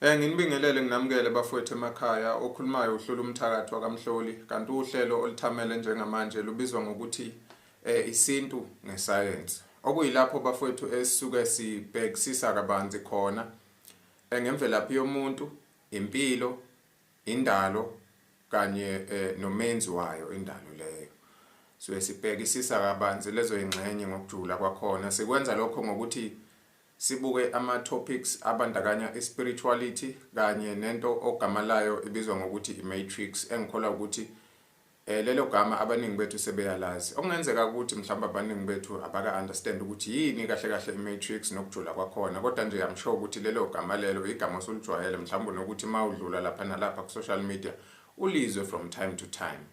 Eh nginibingelele nginamukele bafowethu emakhaya okhulumayo uhlula umthakathi wakamhloli kanti uhlelo olithamele njengamanje lubizwa ngokuthi eh isintu ngesayensi okuyilapho bafowethu esisuke sibhekisisa kabanzi khona eh, ngemvelaphi yomuntu impilo indalo kanye eh, nomenzi wayo indalo leyo so sibhekisisa kabanzi lezo ingxenye ngokujula kwakhona sikwenza lokho ngokuthi Sibuke ama topics abandakanya i spirituality kanye nento ogama layo ibizwa ngokuthi i matrix engikholwa ukuthi eh lelo gama abaningi bethu sebeyalazi. Okungenzeka ukuthi mhlawumbe abaningi bethu abaka understand ukuthi yini kahle kahle i matrix nokujula kwakhona kodwa nje I'm sure ukuthi lelo gama lelo igama osulijwayele mhlawumbe nokuthi mawudlula lapha nalapha ku social media ulizwe from time to time.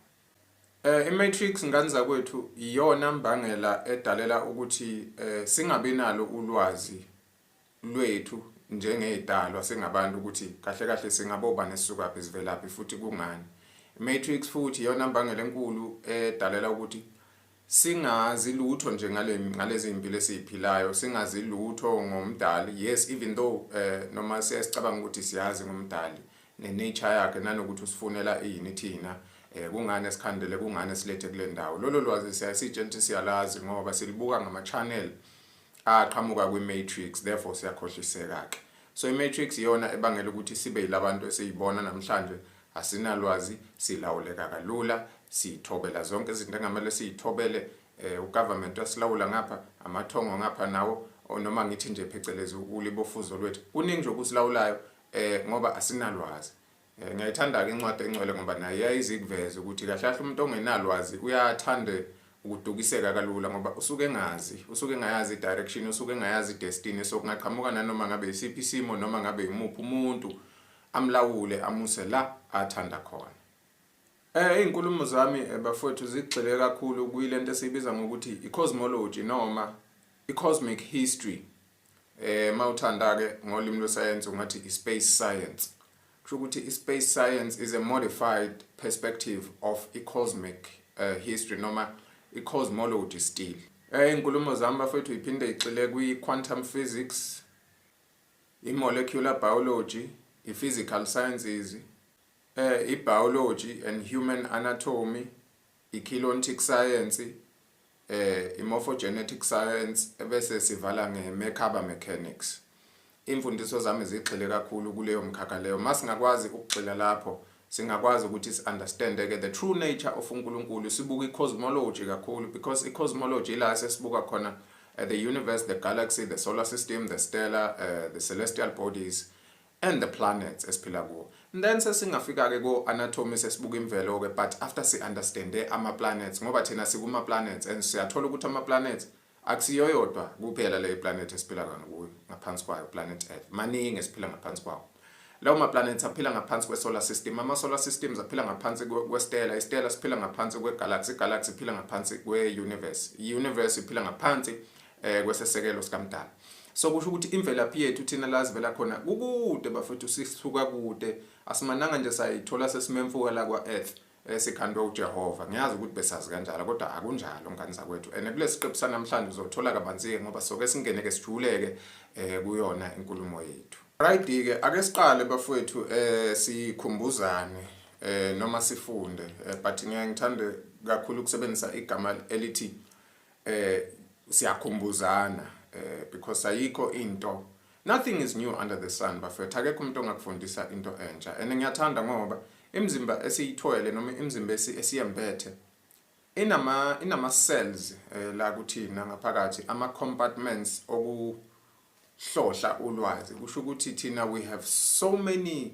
Eh iMatrix ngane zakwethu iyona mbangela edalela ukuthi eh singabi nalo ulwazi lwethu njengezidalwa singabantu ukuthi kahle kahle singaboba nesisukaphi sivelaphi futhi kungani. Matrix futhi iyona mbangela enkulu edalela ukuthi singazi lutho nje ngale ngalezi impilo esiziphilayo singazi lutho ngomdali yes even though uh, noma siyasicabanga ukuthi siyazi ngomdali nenature yakhe nanokuthi usifunela ini thina eh kungani esikhandele kungani silethe kule ndawo lolo lwazi siyasitshentshi siyalazi ngoba silibuka ngama channel aqhamuka kwi matrix therefore siyakhohliseka ke so i matrix iyona ebangela ukuthi sibe yilabantu esiyibona namhlanje Asinalwazi, silawuleka kalula, sithobela zonke izinto engamele siyithobele, eh, ugovernment wasilawula ngapha, amathongo ngapha nawo, or noma ngithi nje phecelezi ulibofuzo lwethu. Kuningi nje okusilawulayo eh, ngoba asinalwazi. Eh, ngiyayithanda-ke incwadi engcwele ngoba naye yayizikuveza ukuthi kahle kahle umuntu ongenalwazi uyathande ukudukiseka kalula ngoba usuke engazi usuke engayazi i-direction usuke engayazi i-destiny so kungaqhamuka nanoma ngabe yisiphi isimo noma ngabe yimuphi umuntu amlawule amuse la athanda khona. Eh izinkulumo zami eh, bafowethu zigxile kakhulu kuyilento esibiza ngokuthi i-cosmology noma i-cosmic history. Eh mawuthanda ke ngolimi lwesayensi ungathi i-space science. Kusho ukuthi i-space science is a modified perspective of i-cosmic uh, history noma i-cosmology still. Eh inkulumo zami bafowethu iphinde igxile kwi-quantum physics i-molecular biology, i-physical sciences, eh, i-biology and human anatomy, i-kilontic science, eh, i-morphogenetic science, ebese sivala nge-merkaba mechanics. Imfundiso zami zigxile kakhulu kuleyo mkhakha leyo. Uma singakwazi ukugxila lapho, Singakwazi ukuthi si understand ke the true nature of uNkulunkulu sibuka i cosmology kakhulu because i cosmology ila sesibuka khona uh, the universe, the galaxy, the solar system, the stellar, uh, the celestial bodies and the planets esiphila kuwo and then sesingafika ke ko anatomy sesibuka imvelo ke but after si understand ama planets ngoba thina sikuma planets and siyathola ukuthi ama planets Akusiyo yodwa kuphela le planet esiphila kona kuyo ngaphansi kwayo planet Earth. Maningi esiphila ngaphansi kwawo. Lawo ma planets aphila ngaphansi kwe solar system. Ama solar systems aphila ngaphansi kwe stella. I stella siphila ngaphansi kwe galaxy. Galaxy iphila ngaphansi kwe universe. I universe iphila ngaphansi eh kwesesekelo sikamdala. So kusho ukuthi imvelaphi yethu thina la sivela khona kukude bafethu sisuka kude. Asimananga nje sayithola sesimemfuka la kwa earth. esikhandwe uJehova ngiyazi ukuthi besazi kanjalo kodwa akunjalo ngane zakwethu and kulesiqephu sanamhlanje uzothola kabanzi-ke ngoba soke singeneke sijuleke eh kuyona inkulumo yethu right ke ake siqale bafowethu eh sikhumbuzane eh noma sifunde eh, but ngiyaye ngithande kakhulu ukusebenzisa igama elithi eh siyakhumbuzana eh because ayikho into Nothing is new under the sun bafethu akekho umuntu ongakufundisa into entsha and ngiyathanda ngoba imizimba esiyithwele noma imizimba esiyembethe inama inama cells eh, la kuthina ngaphakathi ama compartments okuhlohla ulwazi kusho ukuthi thina we have so many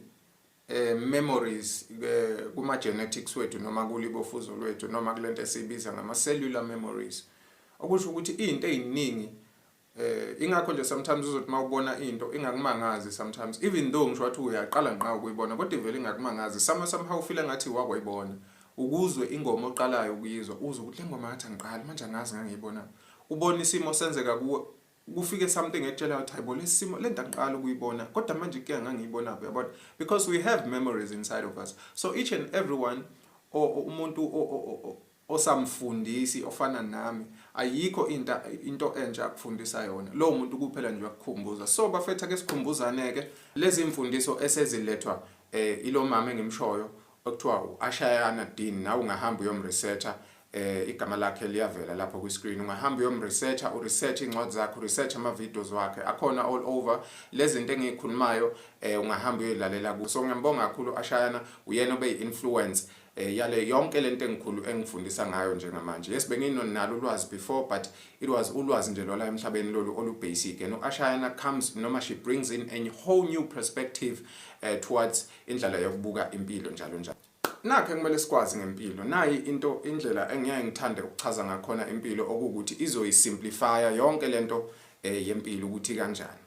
eh, memories eh, kuma genetics wethu noma kulibofuzo lwethu noma kulento esibiza ngama cellular memories okusho ukuthi izinto eziningi Eh ingakho nje sometimes uzothi mawubona into ingakumangazi sometimes even though ngisho wathi uyaqala ngqa ukuyibona kodwa ivele ingakumangazi sama somehow feel ngathi wakwayibona ukuzwe ingoma oqalayo ukuyizwa uze ukuthi lengoma ngathi angiqali manje angazi ngangiyibona ubona isimo senzeka kuwe kufike something etshela ukuthi hayibo lesimo lento angiqala ukuyibona kodwa manje ke ngangiyibona uyabona because we have memories inside of us so each and everyone umuntu Awesome mfundisi ofana nami ayikho into into entsha akufundisa yona lowo muntu kuphela nje wakukhumbuza so bafethu ake sikhumbuzane ke lezi imfundiso esezilethwa eh ilomama engimshoyo okuthiwa uAshayana Dean nawe ungahamba uyomresearcher eh igama lakhe liyavela lapho kwi screen ungahamba uyomresearcher u research incwadi zakhe u research ama videos wakhe akhona all over lezinto engikhulumayo eh ungahamba uyilalela ku so ngiyambonga kakhulu ashayana uyena obe influence eh, yale yonke lento engikhulu engifundisa ngayo njengamanje yes benginonalo ulwazi before but it was ulwazi nje lola emhlabeni lolu olu basic and uashayana comes noma she brings in a whole new perspective uh, towards indlela yokubuka impilo njalo njalo nakhe kumele sikwazi ngempilo nayi into indlela engiyeke ngithande ukuchaza ngakhona impilo okuwukuthi izoyisimplifya yonke lento eh, yempilo ukuthi kanjani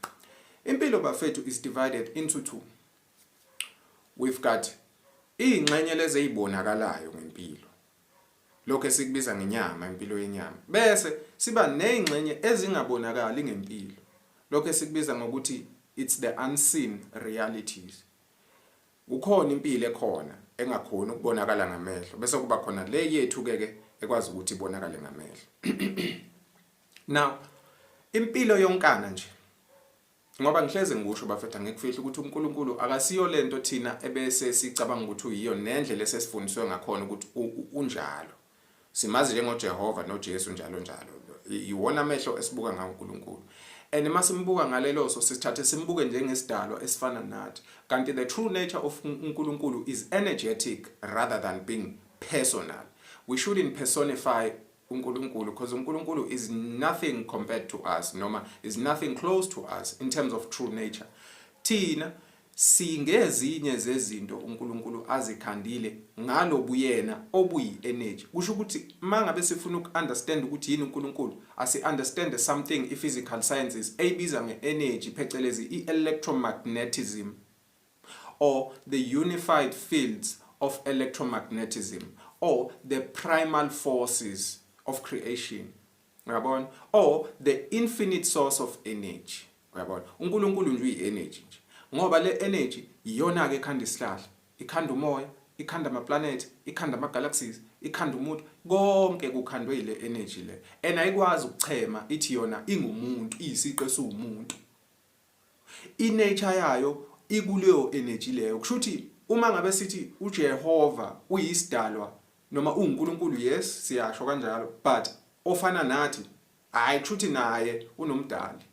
impilo bafethu is divided into two We've got iy'ngxenye lezi ey'bonakalayo ngempilo, lokho esikubiza ngenyama, impilo yenyama, bese siba ney'ngxenye ezingabonakali ngempilo, lokho esikubiza ngokuthi it's the unseen realities. Kukhona impilo ekhona engakhoni ukubonakala ngamehlo, bese kuba khona le yethu-ke ke ekwazi ukuthi ibonakale ngamehlo. Now, impilo yonkana nje, Ngoba ngihleze ngikusho bafethu angikufihli ukuthi uNkulunkulu akasiyo lento thina ebese sicabanga ukuthi uyiyo nendlela esesifundiswe ngakhona ukuthi unjalo. Simazi njengoJehova noJesu njalo njalo. Iwona amehlo esibuka ngawo uNkulunkulu. And uma simbuka ngalelo so sithathe simbuke njengesidalwa esifana nathi. Kanti the true nature of uNkulunkulu is energetic rather than being personal. We shouldn't personify uNkulunkulu because uNkulunkulu is nothing compared to us noma is nothing close to us in terms of true nature thina singezinye zezinto uNkulunkulu azikhandile ngalobuyena obuyi energy kusho ukuthi mangabe sifuna ukuunderstand ukuthi yini uNkulunkulu asi understand something i physical sciences ebiza nge energy phecelezi i electromagnetism or the unified fields of electromagnetism or the primal forces of creation uyabona or the infinite source of energy uyabona uNkulunkulu nje uyi-energy nje ngoba le energy iyona ke ekhanda isihlahla ikhanda umoya ikhanda amaplanethi ikhanda amagalaxies ikhanda umuntu konke kukhandwe ile energy le and ayikwazi ukuchema ithi yona ingumuntu iyisiqe siwumuntu I nature yayo ikuleyo energy leyo. Kusho ukuthi uma ngabe sithi uJehova uyisidalwa noma uNkulunkulu yes siyasho kanjalo but ofana nathi hayi kusho ukuthi naye unomdali.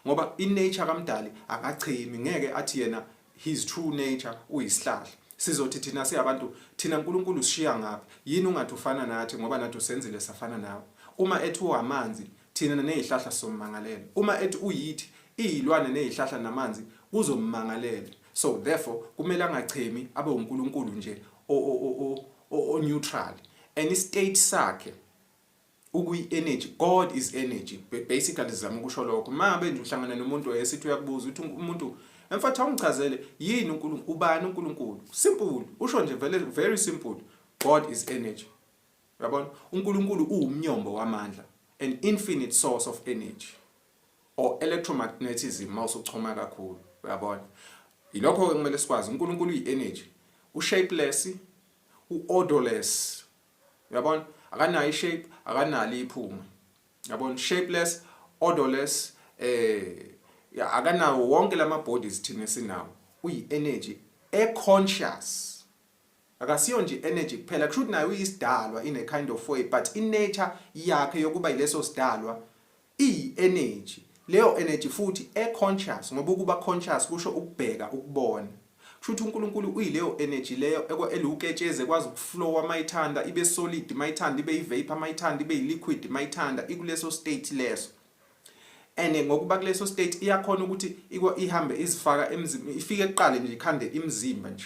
Ngoba i nature kaMdali akachemi ngeke athi yena his true nature uyisihlahla sizothi thina siyabantu thina uNkulunkulu usishiya ngaphi yini ungathi ufana nathi ngoba nathi usenzile safana nawe uma ethi uwamanzi thina nezihlahla sommangalela uma ethi uyithi izilwane nezihlahla namanzi kuzommangalela so therefore kumele angachemi abe uNkulunkulu nje o o o o neutral any state sakhe ukuyi energy god is energy basically sizama ukusho lokho uma ngabe nje uhlangana nomuntu esithi uyakubuza ukuthi umuntu emfatha ungichazele yini uNkulunkulu ubani uNkulunkulu simple usho nje vele very simple god is energy yabona uNkulunkulu uwumnyombo wamandla an infinite source of energy or electromagnetism mawusuchoma kakhulu uyabona yilokho ke kumele sikwazi uNkulunkulu uyi energy u shapeless u odorless Uyabona? Akanayo ishape, akanalo iphunga. Uyabona? Shapeless, odorless eh ya akanawo wonke lama bodies thina sinawo. Uyi energy e conscious. Akasiyo nje energy kuphela kusho ukuthi nayo uyisidalwa ine kind of way but i nature yakhe yokuba ileso sidalwa Iyi energy. Leyo energy futhi e conscious ngoba ukuba conscious kusho ukubheka, ukubona. Kushuthi uNkulunkulu uyileyo energy leyo ekwa eliwuketshezi ekwazi ukuflowa mayithanda ibe solid mayithanda ibe ivapor mayithanda ibe iliquid mayithanda ikuleso state leso. And ngokuba kuleso state iyakhona ukuthi ikwa ihambe izifaka emzimbeni ifike kuqale nje ikhande imzimba nje.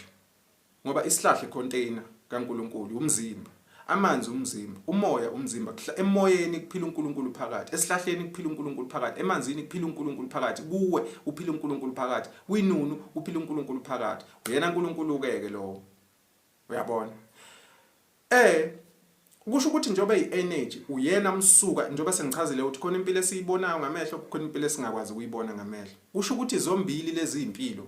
Ngoba isihlahla icontainer kaNkulunkulu, umzimba. Amanzi umzimba, umoya umzimba, kuhla emoyeni kuphila uNkulunkulu phakathi, esihlahleni kuphila uNkulunkulu phakathi, emanzini kuphila uNkulunkulu phakathi, kuwe uphila uNkulunkulu phakathi, kwinunu uphila uNkulunkulu phakathi. Uyena uNkulunkulu ke ke lowo. Uyabona? Eh Kusho ukuthi njengoba i-energy uyena msuka njengoba sengichazile ukuthi khona impilo esiyibonayo ngamehlo khona impilo esingakwazi ukuyibona ngamehlo. Kusho ukuthi zombili lezi impilo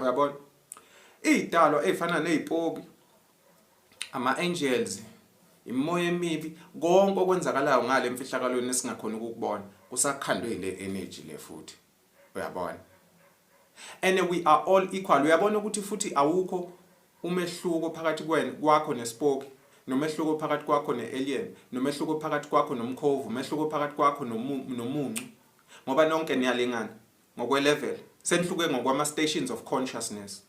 uyabona iy'dalwa ey'fana ney'poki ama-angels imimoya emibi konke okwenzakalayo ngale mfihlakalweni esingakhona ukukubona kusakhandwe yile energy le futhi uyabona and we are all equal uyabona ukuthi futhi awukho umehluko phakathi kwena kwakho nesipoki nomehluko phakathi kwakho ne-alien nomehluko phakathi kwakho nomkhovu umehluko phakathi kwakho nomuncu ngoba nonke niyalingana ngokwelevel senihluke ngokwama stations of consciousness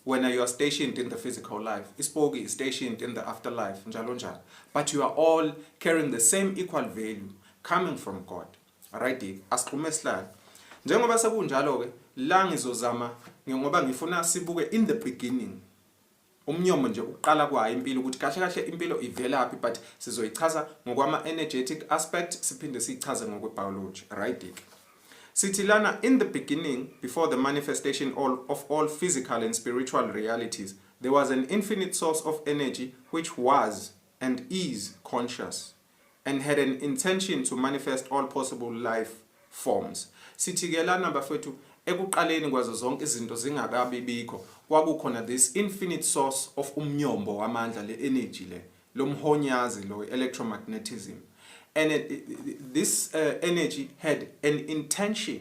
wena you are stationed in the physical life isipoki is stationed in the afterlife njalo njalo but you are all carrying the same equal value coming from god right asixhume sihlale njengoba sekunjalo ke la ngizozama ngoba ngifuna sibuke in the beginning umnyomo nje ukuqala kwayo impilo ukuthi kahle kahle impilo ivelaphi but sizoyichaza ngokwama energetic aspect siphinde siyichaze ngokwe biology right ke sithi lana in the beginning before the manifestation all of all physical and spiritual realities there was an infinite source of energy which was and is conscious and had an intention to manifest all possible life forms. Sithi ke lana bafethu ekuqaleni kwazo zonke izinto zingakabi bikho kwakukhona this infinite source of umnyombo wamandla le energy le lomhonyazi lo electromagnetism and it, it, this uh, energy had an intention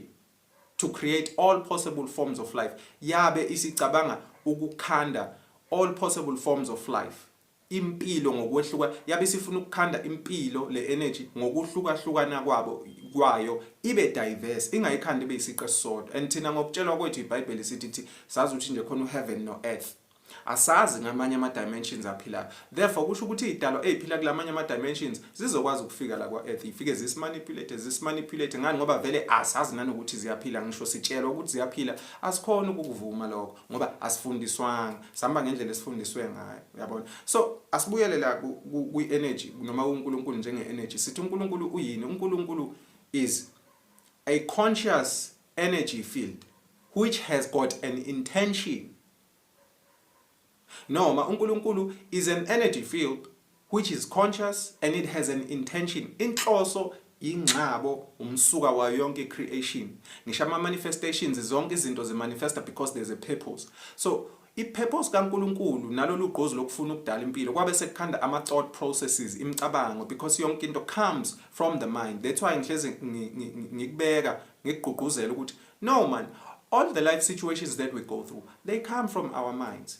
to create all possible forms of life yabe isicabanga ukukhanda all possible forms of life impilo ngokwehluka yabe sifuna ukukhanda impilo le energy ngokuhlukahlukana kwabo kwayo ibe diverse ingayikhanda ibe isiqe sisodwa and thina ngokutshelwa kwethu iBhayibheli sithi thi sazi ukuthi nje khona uheaven no earth asazi ngamanye ama dimensions aphilayo therefore kusho ukuthi idalwa eziphila kulamanye ama dimensions zizokwazi ukufika la kwa earth ifike zisimanipulate zisimanipulate ngani ngoba vele asazi nanokuthi ziyaphila ngisho sitshelwa ukuthi ziyaphila asikhona ukukuvuma lokho ngoba asifundiswanga sihamba ngendlela esifundiswe ngayo uyabona so asibuyele la kwi-energy noma uNkulunkulu njenge-energy sithi uNkulunkulu uyini uNkulunkulu is a conscious energy field which has got an intention noma uNkulunkulu is an energy field which is conscious and it has an intention inhloso yingxabo umsuka wayo yonke creation ngisho ama manifestations zonke izinto zi manifesta because there's a purpose so I-purpose kaNkulunkulu nalolu gqozi lokufuna ukudala impilo kwabe sekukhanda ama-thought processes imicabango because yonke into comes from the mind that's why ngihlezi ngikubeka ngikugqugquzela ukuthi no man all the life situations that we go through they come from our minds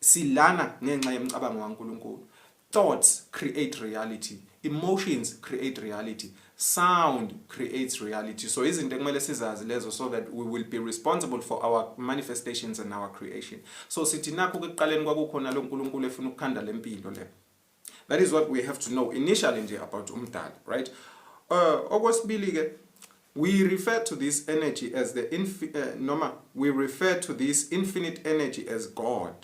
Silana ngenxa yemcabango kaNkulunkulu. Thoughts create reality. Emotions create reality. Sound creates reality. So izinto ekumele sizazi lezo so that we will be responsible for our manifestations and our creation. So sithi nakho kuqaleni kwakukhona lo Nkulunkulu efuna ukukhanda lempilo le. that is what we have to know initially nje about umdali right uh, okwesibili ke we refer to this energy as the infi uh, noma we refer to this infinite energy as god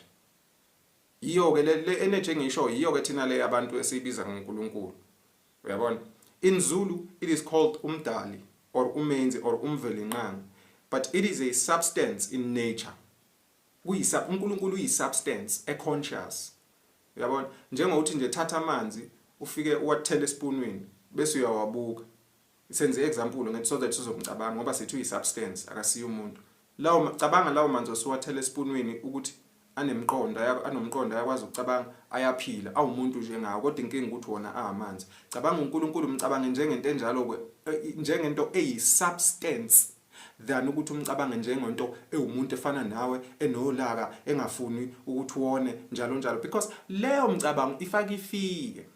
yiyo ke le energy engisho yiyo ke thina le abantu esiyibiza ngoNkulunkulu uyabona in zulu it is called umdali or umenzi or umvelinqangi but it is a substance in nature kuyisa uNkulunkulu uyisubstance e conscious Uyabona? Njengokuthi nje thatha amanzi ufike uwathele esipunwini bese uyawabuka. Senze i-example ngithi so that sizomcabanga ngoba sithi uyi-substance akasiye umuntu. Lawo cabanga lawo manzi osuwathele esipunwini ukuthi anemqondo anomqondo ayakwazi ukucabanga ayaphila awumuntu nje ngawo kodwa inkinga ukuthi wona amanzi cabanga uNkulunkulu mcabange njengento enjalo ke njengento eyi substance than ukuthi umcabange njengento ewumuntu efana nawe enolaka engafuni ukuthi uwone njalo njalo because leyo mcabango ifaka ifiye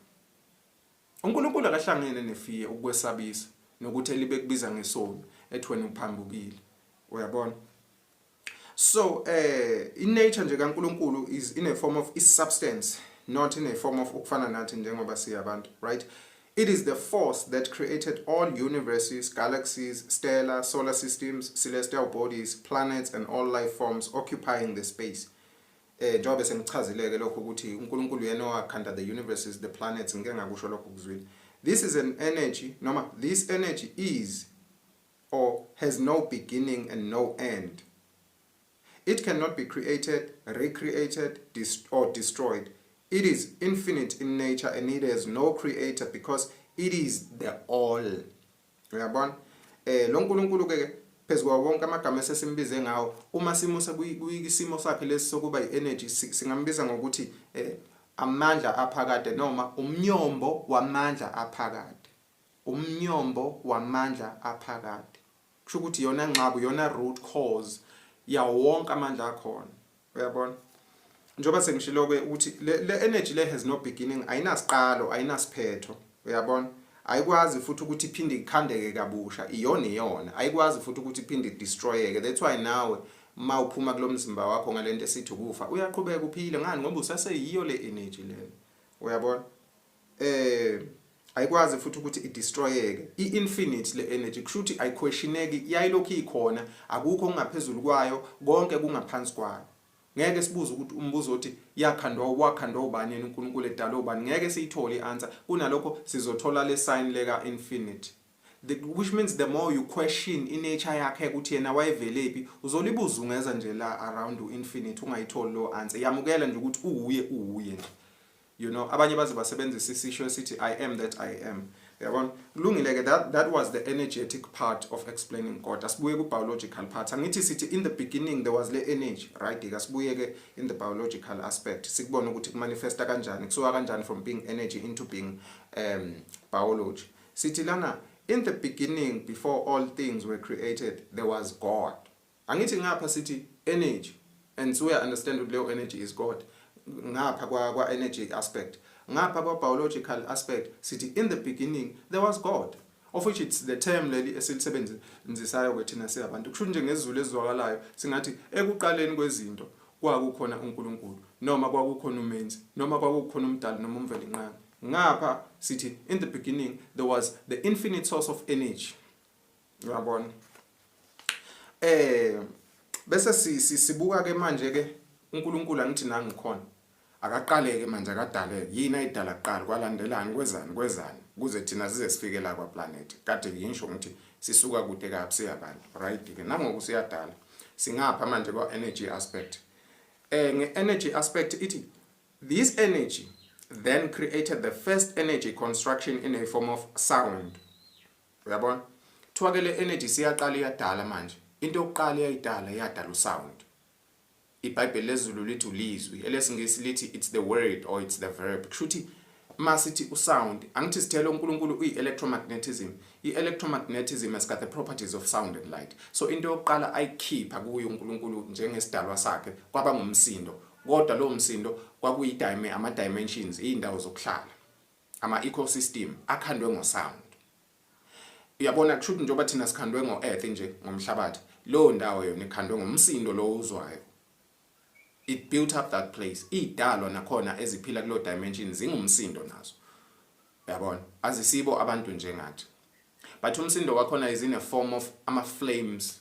uNkulunkulu akahlangene nefiye ukwesabisa nokuthi elibe kubiza ngesoni ethi wena uphambukile uyabona so eh i nature nje kaNkuluNkulu is in a form of is substance not in a form of ukufana nathi njengoba siyabantu right It is the force that created all universes, galaxies, stellar, solar systems, celestial bodies, planets and all life forms occupying the space. Eh njengoba sengichazileke lokho ukuthi uNkulunkulu yena owakhanda the universes, the planets ngeke ngakusho lokho kuzwile. This is an energy noma this energy is or has no beginning and no end. It cannot be created, recreated, dest or destroyed. It is infinite in nature and it has no creator because it is the all. Uyabona? Eh lo nkulunkulu ke phezu kwawo wonke amagama esesimbize ngawo uma simusa kuyisimo sakhe lesi sokuba i-energy singambiza ngokuthi eh, amandla aphakade noma umnyombo wamandla aphakade Umnyombo wamandla aphakade. Kusho ukuthi yona ngxabu, yona root cause yawo wonke amandla akhona. Uyabona? Njengoba sengishilo-ke ukuthi le energy le has no beginning, ayinasiqalo, ayinasiphetho. Uyabona? Ayikwazi futhi ukuthi iphinde ikhandeke kabusha, iyona iyona. Ayikwazi futhi ukuthi iphinde idestroyeke. That's why nawe uma uphuma kulo mzimba wakho ngalento esithi ukufa, uyaqhubeka uphile ngani ngoba usaseyiyo le energy lena. Uyabona? eh ayikwazi futhi ukuthi idestroyeke i-infinite le energy kushuthi ayiquestioneki yayilokhu ikhona akukho kungaphezulu kwayo konke kungaphansi kwayo ngeke sibuze ukuthi umbuzo othi yakhandwa wakhandwa ubani yena uNkulunkulu edala ubani ngeke siyithole ianswer kunalokho sizothola le sign leka infinite the, which means the more you question inature yakhe ukuthi yena wayevelephi uzolibuza ungeza nje la around u infinite ungayitholi lo answer yamukela nje ukuthi uwuye uwuye nje You know, abanye baze basebenzisa isisho esithi I am that I am. Yabona? Kulungile ke that that was the energetic part of explaining God. Asibuye ku biological part. Angithi sithi in the beginning there was le energy, right? Asibuye ke in the biological aspect. Sikubona ukuthi kumanifesta kanjani, kusuka kanjani from being energy into being um biology. Sithi lana in the beginning before all things were created there was God. Angithi ngapha sithi energy and suya understand ukuthi leyo energy is God ngapha kwa kwa energy aspect ngapha kwa biological aspect sithi in the beginning there was God of which it's the term leli esilisebenzisayo ke thina siyabantu kusho nje ngezulu ezizwakalayo singathi ekuqaleni kwezinto kwakukhona uNkulunkulu noma kwakukhona umenzi noma kwakukhona umdali noma umvelinqangi ngapha sithi in the beginning there was the infinite source of energy uyabona eh bese sibuka ke manje ke uNkulunkulu angithi nangikhona akaqaleke manje akadaleke yini ayidala kuqala kwalandelani kwezani kwezani kuze thina size sifike la kwaplanethi kade ngisho ngithi sisuka kude kabi siyabantu right ke nangoku siyadala singapha manje kwa energy aspect eh nge energy aspect ithi this energy then created the first energy construction in a form of sound uyabona kuthiwa ke le energy siyaqala iyadala manje into yokuqala eyayidala yadala usound ibhayibheli lezulu lithi ulizwi elesingisi lithi it's the word or it's the verb kushuthi uma sithi usound angithi sithele uNkulunkulu uyi-electromagnetism i-electromagnetism has got the properties of sound and light so into yokuqala ayikhipha kuyo uNkulunkulu njengesidalwa sakhe kwaba ngumsindo kodwa lowo msindo kwakuyi-ama-dimensions iy'ndawo zokuhlala ama ecosystem akhandwe ngo sound uyabona kushuthi njengoba thina sikhandwe ngo earth nje ngomhlabathi leyo ndawo yona ikhandwe ngomsindo lo uzwayo it built up that place idalwa nakhona eziphila kulo dimension zingumsindo nazo uyabona azisibo abantu njengathi but umsindo wakhona is in a form of ama flames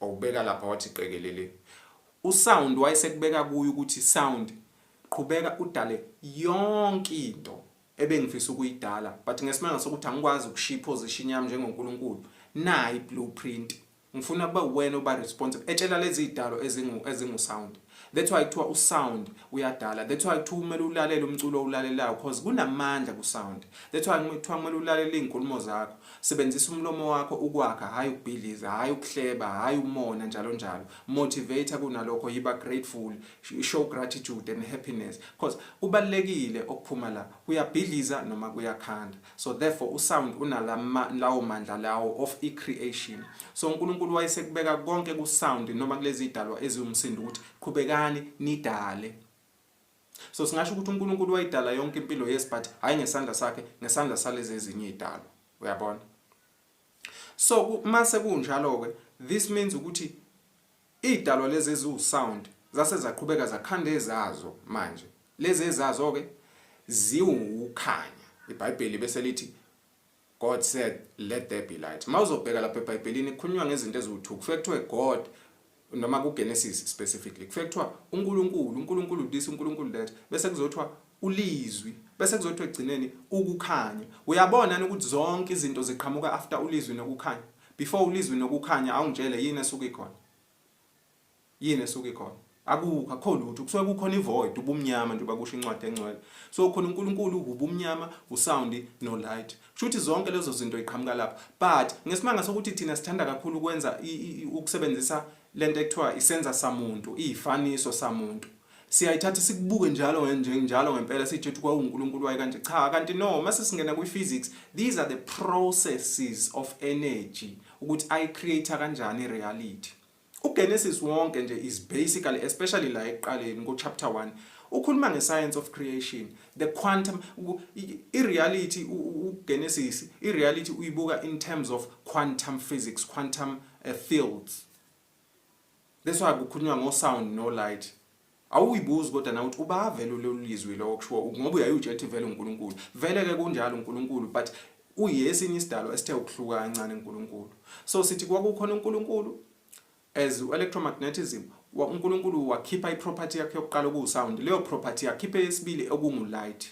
Wawubeka lapha wathi qekelele. USound wayesekubeka kuye ukuthi Sound qhubeka udale yonke into ebengifisa ukuyidala but ngesimanga sokuthi angikwazi ukushiya iposition yami njengoNkulunkulu nayi blueprint ngifuna kube uwena oba responsible etshela lezi zidalo ezingu ezingu sound That's why kuthiwa usound uyadala. That's why kuthiwa kumele ulalele umculo owulalelayo because kunamandla kusound. That's why kuthiwa kumele ulalele izinkulumo zakho. Sebenzisa umlomo wakho ukwakha, hayi ukubhidliza, hayi ukuhleba, hayi umona njalo njalo. Motivator kunalokho yiba grateful, show gratitude and happiness because kubalekile okuphuma la. Kuyabhidliza noma kuyakhanda. So therefore usound unalawo mandla lawo of i-creation. So uNkulunkulu wayesekubeka konke kusound noma kulezi idalwa eziwumsindo ukuthi qhubekani nidale. So singasho ukuthi uNkulunkulu wayidala yonke impilo yes but hayi ngesandla sakhe ngesandla salezi ezinye idalwa. Uyabona? So mase kunjalo ke this means ukuthi Idalwa lezi eziwu sound zase zaqhubeka zakhanda ezazo manje lezi ezazo ke ziwu ukukhanya ibhayibheli bese lithi God said let there be light mawuzobheka lapha ebhayibhelini kukhulunywa ngezinto eziwu2 kufike kuthiwe God noma kuGenesis specifically kufike kuthiwa uNkulunkulu uNkulunkulu this uNkulunkulu that bese kuzothiwa ulizwi bese kuzothiwa egcineni ukukhanya uyabona ukuthi zonke izinto ziqhamuka after ulizwi nokukhanya Before uLizwi nokukhanya awungitshele yini esuke ikhona? Yini esuke ikhona? Akukho akho lutho kusuke kukhona ivoid ubumnyama njengoba kusho incwadi engcwele. So khona uNkulunkulu ubumnyama, usound no light. Kusho ukuthi zonke lezo zinto iqhamuka lapho. But ngesimanga sokuthi thina sithanda kakhulu ukwenza ukusebenzisa lento ekuthiwa isenza samuntu, izifaniso samuntu. siyayithatha sikubuke njalo njalo ngempela sithi ukuthi kwawuNkulunkulu waye kanje cha kanti no mase singena kwi physics these are the processes of energy ukuthi i create kanjani reality uGenesis wonke nje is basically especially la eqaleni ngo chapter 1 ukhuluma nge science of creation the quantum i reality uGenesis i reality uyibuka in terms of quantum physics quantum uh, fields That's why kukhulunywa ngo sound no light. Awuyibuzi kodwa na ukuthi ubavele ulolizwi lokho kushiwo ngoba uyayutshe ethi vele uNkulunkulu. Vele ke kunjalo uNkulunkulu but uyesinye isidalo esithe ukuhluka kancane uNkulunkulu. So sithi kwakukhona uNkulunkulu as electromagnetism uNkulunkulu wakhipha iproperty yakhe yokuqala okuwu sound. Leyo property yakhipha eyesibili okungu light.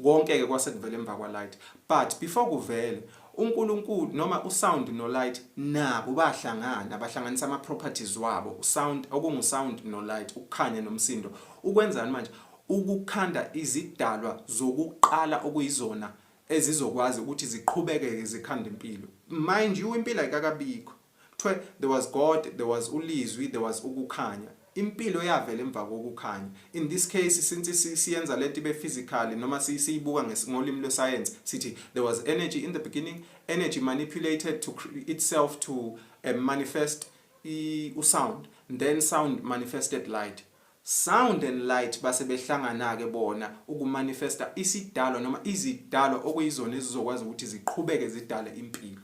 Konke ke kwase kuvela emva kwa light but before kuvele uNkulunkulu noma u sound no light nabo bahlangana bahlanganisa ama properties wabo u sound okungu sound no light ukukhanya nomsindo ukwenzani manje ukukhanda izidalwa zokuqala okuyizona ezizokwazi ukuthi ziqhubekeke zikhanda impilo mind you impilo ayikakabikho Kuthiwe, There was God, there was uLizwi, there was ukuKhanya. Impilo yavela emva kokuKhanya. In this case, since si, siyenza le nto ibe physically, noma si, siyibuka nges, ngolimi lwesayensi, sithi, There was energy in the beginning, energy manipulated to itself to uh, manifest i, usound, then sound manifested light. Sound and light base behlangana-ke bona ukumanifesta isidalwa noma izidalwa okuyizona ezizokwazi ukuthi ziqhubeke zidale impilo.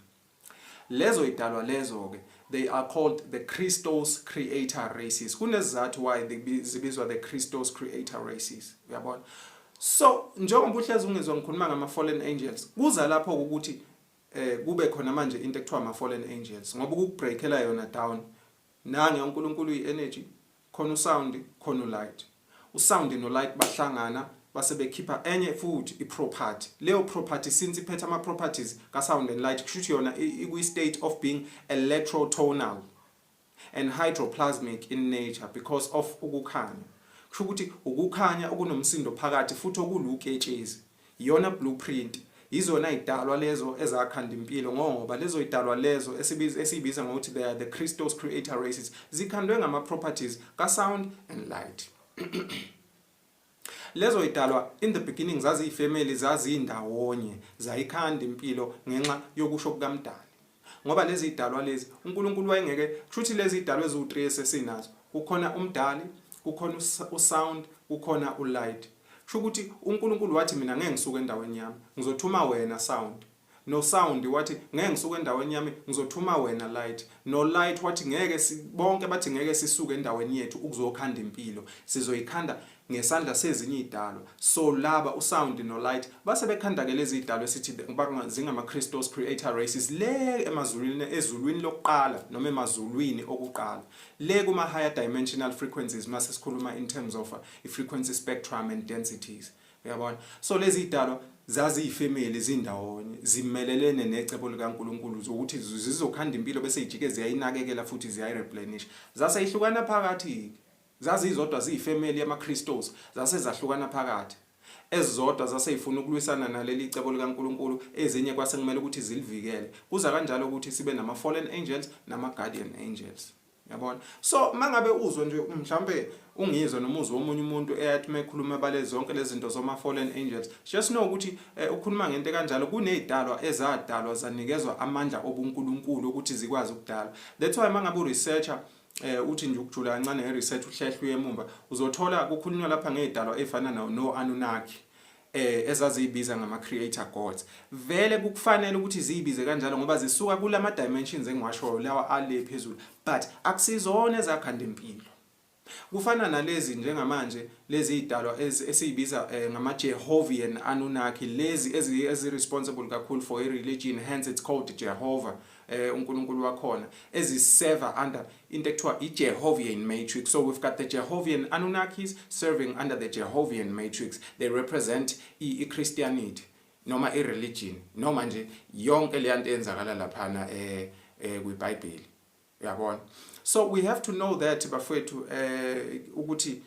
Lezo idalwa lezo ke they are called the Christos creator races. Kunezizathu why zibizwa the Christos creator races. Uyabona? So njengoba uhlezi ungizwa ngikhuluma ngama fallen angels kuza lapho ukuthi eh kube khona manje into ekuthiwa ama fallen angels ngoba ukubreakela yona down nange uNkulunkulu uyi energy Khona usound khona ulight. Usound nolight bahlangana base bekhipha enye futhi iproperty. Leyo property since iphethe ama properties ka sound and light kushuthi yona ikwi state of being electrotonal and hydroplasmic in nature because of ukukhanya. Kusho ukuthi ukukhanya okunomsindo phakathi futhi okuluketshezi. Iyona blue print. Yizona yidalwa lezo ezakhanda impilo ngoba lezo yidalwa lezo esiyibiza ngokuthi they are the Christos creator races zikhandwe ngama properties ka sound and light. Lezo yidalwa in the beginning zaziyifamily zazindawonye zayikhanda impilo ngenxa yokusho kukaMdali. Ngoba lezi idalwa lezi uNkulunkulu wayengeke kushuthi lezi idalwa eziwu3 esesinazo kukhona umdali kukhona usound kukhona ulight kusho ukuthi uNkulunkulu wathi mina ngeke ngisuke endaweni yami ngizothuma wena sound no sound wathi ngeke ngisuke endaweni yami ngizothuma wena light no light wathi ngeke bonke bathi ngeke sisuke endaweni yethu ukuzokhanda impilo sizoyikhanda ngesandla sezinye izidalwa so laba usound nolight base bekhandakela izidalwa esithi zingama-christos creator races le emazulwini ezulwini lokuqala noma emazulwini okuqala le kuma-higher dimensional frequencies uma sesikhuluma in terms of uh, i-frequency spectrum and densities uyabona so lezi zidalwa zaziyifemeli zindawonye zimelelene necebo likaNkuluNkulu zokuthi zizokhanda impilo bese ijike ziyayinakekela futhi ziyayireplenish zase ihlukana phakathi Zazizodwa ziyifemeli yamaKristos, zase zahlukana phakathi. Ezizodwa zase yifuna ukulwisana naleli cebo likaNkulunkulu, ezinye kwase kumele ukuthi zilivikele. Kuza kanjalo ukuthi sibe nama-fallen angels nama-guardian angels. Yabona? So, uma ngabe uzwa nje, mhlampe uNgizwe noma uzwe omunye umuntu eyathi uma ekhuluma ebale zonke lezi zinto zoma-fallen angels, just know ukuthi eh, ukhuluma ngento ekanjalo. Kunezidalwa ezadalwa zanikezwa amandla obuNkulunkulu ukuthi zikwazi ukudala. That's why uma ngabe uresearcher eh uthi nje ukujula kancane nge research uhlehla uyemumba uzothola kukhulunywa lapha ngezidalwa efana no no Anunnaki eh ezaziyibiza ngama creator gods vele kukufanele ukuthi ziyibize kanjalo ngoba zisuka kulama dimensions engiwashoyo lawa ale phezulu but akusizona ezakhanda impilo kufana nalezi njengamanje lezi idalwa esiyibiza eh, ngama Jehovian Anunnaki lezi ezi responsible kakhulu for i religion hence it's called Jehovah eh uNkulunkulu wakhona eziseva under into ekuthiwa iJehovian matrix so we've got the Jehovian Anunnakis serving under the Jehovian matrix they represent iChristianity noma ireligion noma nje yonke le nto eyenzakala laphana eh, eh kwiBhayibheli uyabona so we have to know that bafwethu eh ukuthi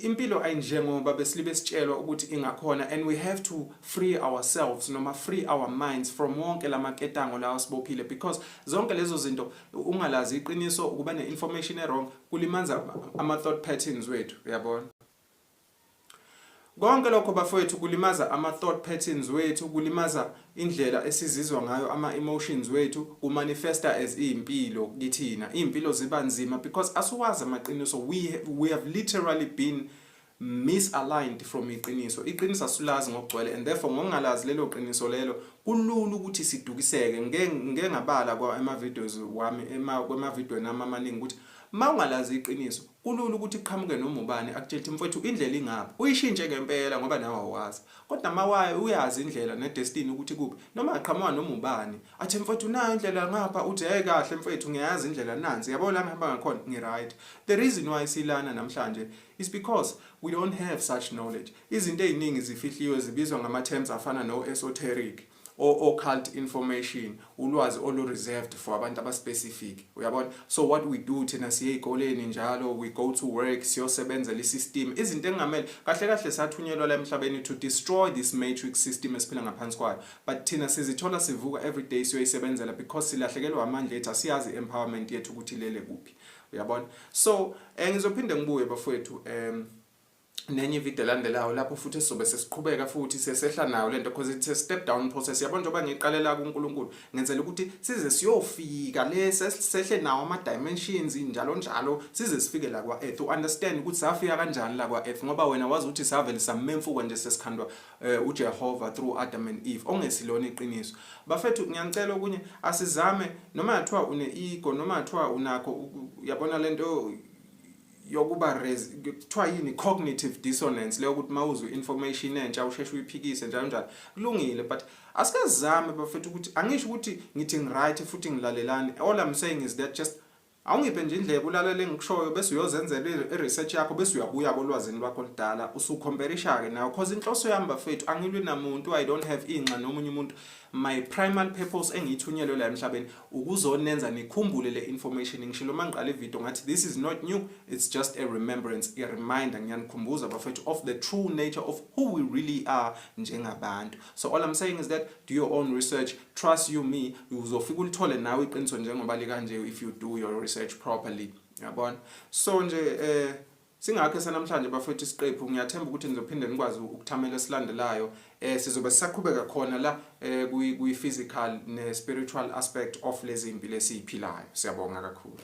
Impilo ayinjengoba besilibe sitshelwa ukuthi ingakhona and we have to free ourselves noma free our minds from wonke lamaketango lawa sibophile because zonke lezo zinto ungalazi iqiniso ukuba ne information ewrong kulimanza ama thought patterns wethu uyabona Konke lokho bafowethu kulimaza ama thought patterns wethu kulimaza Indlela esizizwa ngayo ama emotions wethu ku manifesta as iyimpilo kithina. Iyimpilo ziba nzima because asiwazi amaqiniso we we have literally been misaligned from iqiniso. Iqiniso asilazi ngokugcwele and therefore ngokungalazi lelo qiniso lelo kulula ukuthi sidukiseke. Ngike ngike ngabala kwa ema videos wami ema kwema video nami amaningi ukuthi mawungalazi iqiniso kulula ukuthi qhamuke noma ubani akutshele ukuthi mfwethu indlela ingapha. Uyishintshe ngempela ngoba nawe awazi. Kodwa mawaye uyazi indlela nedestiny ukuthi kuphi noma aqhamuka noma ubani athi mfowethu nayo indlela ngapha uthi hey kahle mfowethu ngiyazi indlela nansi yabo la ngihamba ngakhona ngi right the reason why silana namhlanje is because we don't have such knowledge izinto eziningi zifihliwe zibizwa ngama terms afana no esoteric or occult information ulwazi olu reserved for abantu aba specific uyabona so what we do thina siye ezikoleni njalo we go to work siyosebenza le system izinto engamele kahle kahle sathunyelwa la emhlabeni to destroy this matrix system esiphila ngaphansi kwayo but thina sizithola sivuka every day siyoyisebenzela because silahlekelwa amandla ethu asiyazi empowerment yethu ukuthi lele kuphi uyabona so eh, ngizophinde ngibuye bafowethu um nenye ivideo elandelayo lapho futhi sizobe sesiqhubeka futhi sesehla nayo lento because it's a step down process yabo njengoba ngiqalela kuNkulunkulu ngenzela ukuthi size siyofika le sehle nawo ama dimensions njalo njalo size sifike la kwa earth u understand ukuthi safika kanjani la kwa earth ngoba wena wazi ukuthi savele samemfuka nje sesikhandwa eh, uJehova through Adam and Eve ongesilona iqiniso bafethu ngiyangicela okunye asizame noma yathiwa une ego noma yathiwa unakho yabona lento yokuba kuthiwa yini cognitive dissonance leyo ukuthi mawuzwe information entsha usheshe uyiphikise njalo njalo kulungile but asikazame bafethu ukuthi angisho ukuthi ngithi ngiright futhi ngilalelani all i'm saying is that just awungiphe nje indlebe ulalele engikushoyo bese uyozenzela i-research yakho bese uyabuya kolwazini lwakho oludala usukhomperisha-ke nayo because inhloso yami bafethu angilwi namuntu i don't have inxa nomunye umuntu my primal purpose engiyithunyelwe la emhlabeni ukuzonenza nikhumbule le information ngishilo mangiqala ivideo ngathi this is not new it's just a remembrance a reminder ngiyanikhumbuza bafethu of the true nature of who we really are njengabantu so all i'm saying is that do your own research trust you me uzofika ulithole nawe iqiniso njengoba likanje if you do your research properly yabona so nje eh Singakho esanamhlanje bafwethu isiqephu ngiyathemba ukuthi nizophinde nikwazi ukuthamela esilandelayo eh sizobe sisaqhubeka khona la eh kuyi physical ne spiritual aspect of lezi impilo esiyiphilayo siyabonga kakhulu